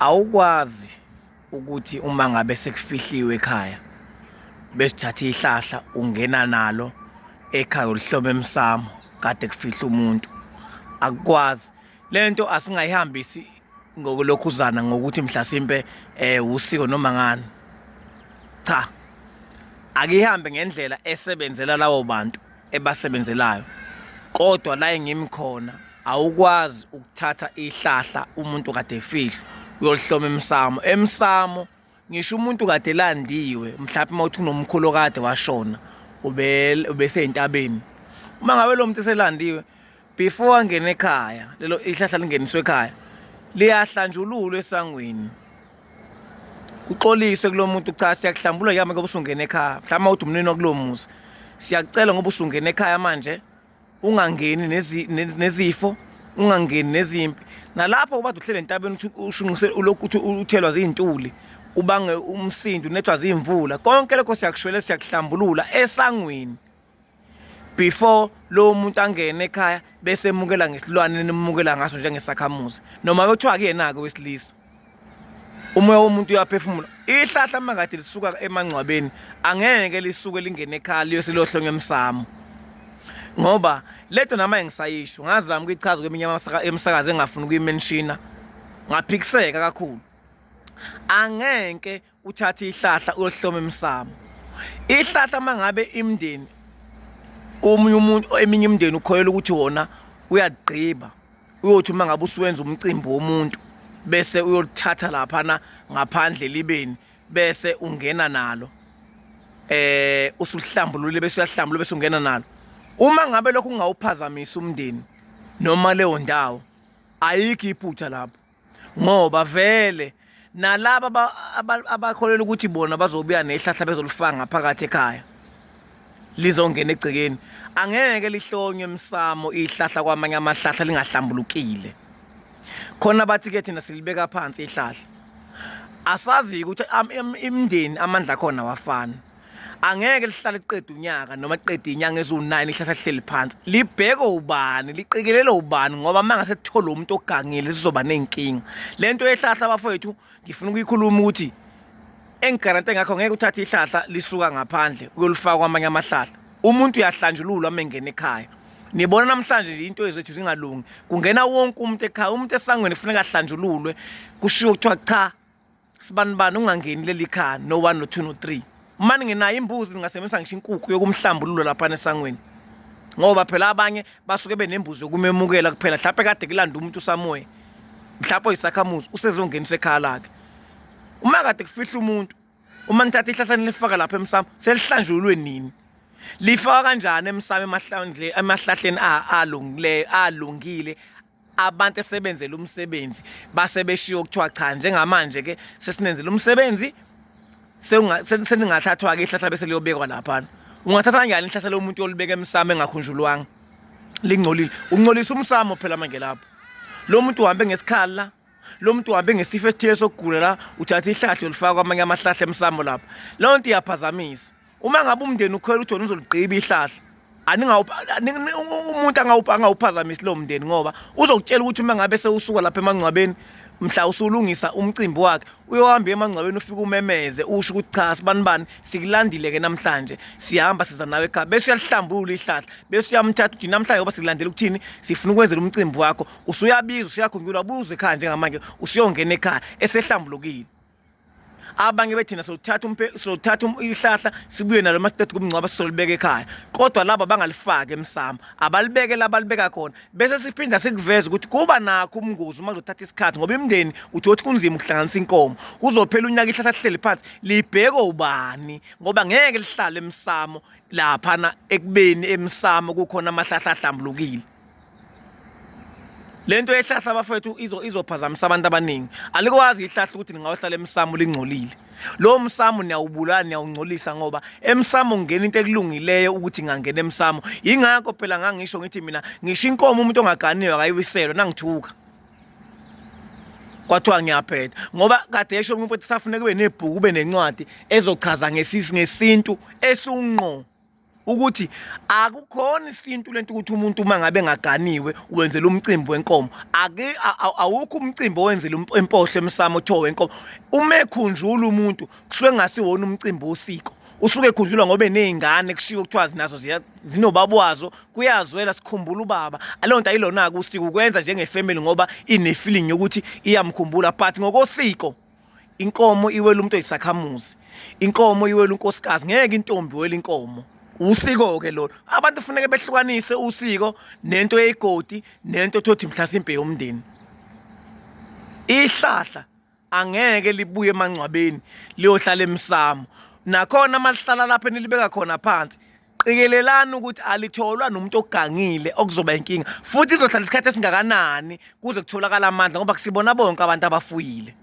awukwazi ukuthi uma ngabe sekufihliwe ekhaya besithatha ihlahla ungena nalo ekhaya ulihlome emsamo kade kufihla umuntu akukwazi lento asingayihambisi ngokulokhuzana ngokuthi mhlasimpe eh usiko noma ngani cha akihambe ngendlela esebenzela lawo bantu ebasebenzelayo kodwa la engimi khona awukwazi ukuthatha ihlahla umuntu kade efihlwa uyolihloma emsamo emsamo ngisho umuntu kade elandiwe mhlawumbe uma uthi unomkhulu kade washona ubeseyintabeni uma ngabe lo muntu eselandiwe before angene ekhaya lelo ihlahla lingeniswe ekhaya liyahlanjululwa esangweni uxoliswe kulo muntu cha siyakuhlambula yami ngoba usungena ekhaya mhlawumbe uthi umnini wakulo muzi siyakucela ngoba usungena ekhaya manje ungangeni nezifo ungangeni nezimpi nalapho uba uhlele entabeni ukuthi ushunqise ulokhu ukuthi uthelwa zintuli ubange umsindo unethwa zimvula konke lokho siyakushwele siyakuhlambulula esangweni before lowo muntu angene ekhaya bese emukela ngesilwane nimukela ngaso njengesakhamuzi noma bekuthiwa kuyena-ke wesilisa umoya womuntu uyaphefumula ihlahla uma kade lisuka emangcwabeni angeke lisuke lingene ekhaya liyose liyohlonywa emsamo ngoba leto nama engisayisho ngazama ukuyichaza kweminye emisakazi engafuni ukuyimenshina ngaphikiseka kakhulu angeke uthatha ihlahla uyohloma emsamo ihlahla mangabe imndeni omunye umuntu eminye imndeni ukhoyela ukuthi wona uyagqiba uyothi uma ngabe usuwenza umcimbi womuntu bese uyolithatha laphana ngaphandle libeni bese ungena nalo eh usuhlambulule bese uyahlambulula bese ungena nalo uma ngabe lokho kungawuphazamisa umndeni noma leyo ndawo ayikho iphutha lapho ngoba vele nalaba abakholela ukuthi bona bazobuya nehlahla bezolifaka ngaphakathi ekhaya lizongena egcekeni angeke lihlonywe emsamo ihlahla kwamanye amahlahla lingahlambulukile khona bathi ke thina silibeka phansi ihlahla asazi ukuthi imndeni amandla khona wafana angeke lihlale liqeda unyaka noma liqeda inyanga eziwu-9 lihlahla lihleli phansi libheke ubani liqikelele ubani ngoba uma ngase kuthole umuntu ogangile sizoba ney'nkinga le nto yehlahla abafowethu ngifuna ukuyikhuluma ukuthi engigarante ngakho ngeke uthathe ihlahla lisuka ngaphandle uyolifaka kwamanye amahlahla umuntu uyahlanjululwa uma engena ekhaya nibona namhlanje nje into ezethu zingalungi kungena wonke umuntu ekhaya umuntu esangweni kufuneka ahlanjululwe kushiwo kuthiwa cha sibanibani ungangeni leli khaya no 1 no 2 no 3 mani nginayo imbuzi ningasebenzisa ngisho inkukhu yokumhlambululo lapha nesangweni ngoba phela abanye basuke benembuzi yokumemukela kuphela mhlawumpe kade kulanda umuntu usamoya mhlawumpe oyisakhamuzi usezongenisa ekhaya lakhe uma kade kufihla umuntu uma nithatha ihlahla nilifaka lapha emsamo selihlanjululwe nini lifaka kanjani emsamo emahlahleni alungile abantu esebenzele umsebenzi base beshiyo kuthiwa cha njengamanje ke sesinenzele umsebenzi seningathathwa ke ihlahla bese liyobekwa lapha ungathatha kanjani ihlahla lomuntu olibeka emsamo engakhunjulwanga lingcolile uncolisa umsamo phela manje lapho lo muntu uhambe ngesikhala lo muntu uhambe ngesifo esithile sokugula la uthatha ihlahla ulifaka kwamanye amahlahla emsamo lapha leyo nto iyaphazamisa uma ngabe umndeni ukhwela uJona uzoligqiba ihlahla umuntu angawuphazamisi lowo mndeni ngoba uzokutshela ukuthi uma ngabe sewusuka lapha emangcwabeni mhla usulungisa umcimbi wakhe uyohamba emangcwabeni ufike umemeze usho ukuthi cha sibani bani sikulandile ke namhlanje sihamba siza nawe ekhaya bese uyahlambulula ihlahla bese uyamthatha uthi namhlanje ngoba sikulandela ukuthini sifuna ukwenzela umcimbi wakho usuyabiza usuyakhunjulwa buze ekhaya njengamanje usuyongena ekhaya esehlambulukile abanye bethina sothatha umpe sothatha um-, ihlahla sibuye nalo masiqeda kumngcwaba sisolibeka ekhaya kodwa laba bangalifaki emsamo abalibeke labalibeka khona bese siphinda sikuveza ukuthi kuba nakho umngozi uma kuzothatha isikhathi ngoba imndeni uthi othi kunzima ukuhlanganisa inkomo kuzophela unyaka ihlahla lihleli phansi libheke ubani ngoba ngeke lihlale emsamo laphana ekubeni emsamo kukhona amahlahla ahlambulukile lento ehlahla abafethu izo izophazamisa abantu abaningi alikwazi ihlahla ukuthi lingayohlala emsamo lingcolile lo msamo niyawubulala niyawungcolisa ngoba emsamo ungena into ekulungileyo ukuthi ngangena emsamo ingakho phela ngangisho ngithi mina ngisho inkomo umuntu ongaganiwe akayiwiselwe nangithuka kwathiwa ngiyaphetha ngoba kade esho umuntu ukuthi safuneka kube nebhuku kube nencwadi ezochaza ngesintu esunqo ukuthi akukhona isintu lento ukuthi umuntu uma ngabe ngaganiwe wenzela umcimbi wenkomo ake awukho umcimbi owenzela um-, impohlo emsamo othiwa wenkomo uma ekhunjula umuntu kusuke ngasiwona umcimbi wosiko usuke ekhunjulwa ngoba eney'ngane kushiwo kuthiwa zinazo zinobaba wazo kuyazwela sikhumbula ubaba aleyo nto ayilona-ke usiko ukwenza njengefemeli ngoba inefeeling yokuthi iyamkhumbula but ngokosiko inkomo iwela umuntu oyisakhamuzi inkomo iwela unkosikazi ngeke intombi wela inkomo usiko-ke lona abantu kufuneke behlukanise usiko nento yeyigodi nento thothi mhlasimpe yomndeni ihlahla angeke libuye emangcwabeni liyohlala emsamo nakhona malihlala lapho enilibeka khona phansi qikelelani ukuthi alitholwa nomuntu ogangile okuzoba inkinga futhi izohlala isikhathi esingakanani kuze kutholakala amandla ngoba kusibona bonke abantu abafuyile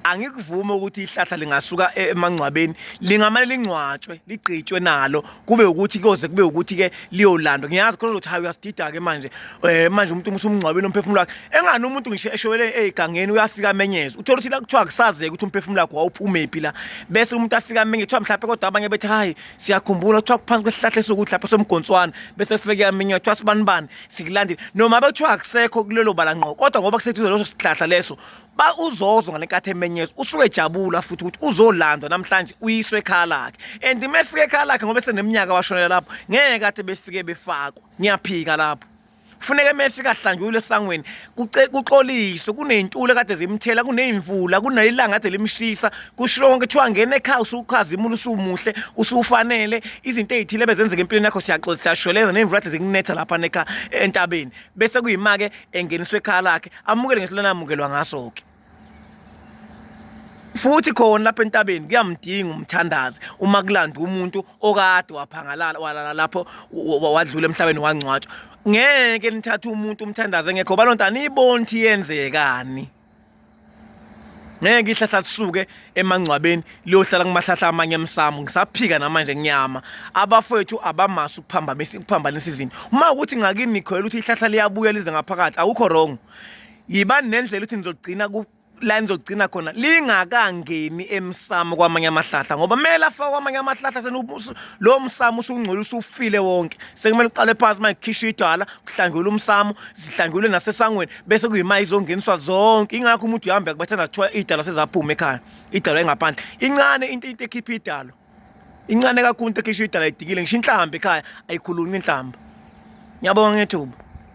angikuvume ukuthi ihlahla lingasuka e-, emangcwabeni lingamane lingcwatshwe ligqitshwe nalo kube ukuthi koze kube ukuthi ke liyolandwa ngiyazi khona ukuthi hayi uyasidida ke manje eh manje umuntu umsumngcwabeni umphefumulo wakhe engani umuntu ngisho eshowele egangeni uyafika amenyeze uthola ukuthi la kuthiwa kusazeke ukuthi umphefumulo wakhe wawuphumephi la bese umuntu afika amenyeze kuthiwa mhlawumbe kodwa abanye bethi hayi siyakhumbula kuthiwa kuphansi kwesihlahla esokuthi lapha somgonswana bese kufike aminywa kuthiwa sibanibani sikulandile noma bekuthiwa akusekho kulelo bala ngqo kodwa ngoba kuseduze leso sihlahla leso ba uzozwa ngale nkathi emenyezwa usuke ejabula futhi ukuthi uzolandwa namhlanje uyiswe ekhaya lakhe and uma efika ekhaya lakhe ngoba eseneminyaka washonela lapho ngeke kade befike befakwa ngiyaphika lapho kufuneka mefika ahlanjulwe esangweni kuxoliswe kuney'ntula kade zimthela kuney'mvula kunelanga kade limshisa kusho konke kuthiwa ngena ekhaya usukhazimula usumuhle usufanele izinto ey'thile bezenzeka empilweni yakho siyaxola siyashweleza ney'mvula kade zikunetha lapha nekha entabeni bese kuyima-ke engeniswa ekhaya lakhe amukele ngesilona amukelwa ngaso-ke futhi khona lapha entabeni kuyamdinga umthandazi uma kulanda umuntu okade waphangalala walala lapho wadlula emhlabeni wangcwatshwa ngeke nithathe umuntu umthandazi engekho balonto aniyiboni ukuthi yenzekani ngeke ihlahla lisuke emangcwabeni liyohlala kumahlahla amanye emsamo ngisaphika namanje ngiyama abafowethu abamasi ukuphambamisa ukuphambanisa izinto uma ukuthi ngakini nikhoyela ukuthi ihlahla liyabuya lize ngaphakathi awukho wrong yibani nendlela ukuthi nizogcina la nizogcina khona lingakangeni emsamo kwamanye amahlahla ngoba kumele afake kwamanye amahlahla senubuso lo msamo usungcola usufile wonke sekumele uqale phansi manje khisha idwala kuhlangelwe umsamo zihlangelwe nasesangweni bese kuyima izongeniswa zonke ingakho umuntu uhamba kubathanda kuthiwa idalo sezaphuma ekhaya idalo engaphandle incane into into ekhipha idalo incane kakhulu into ekhisha idalo idikile ngisho inhlamba ekhaya ayikhulunyi inhlamba ngiyabonga ngethuba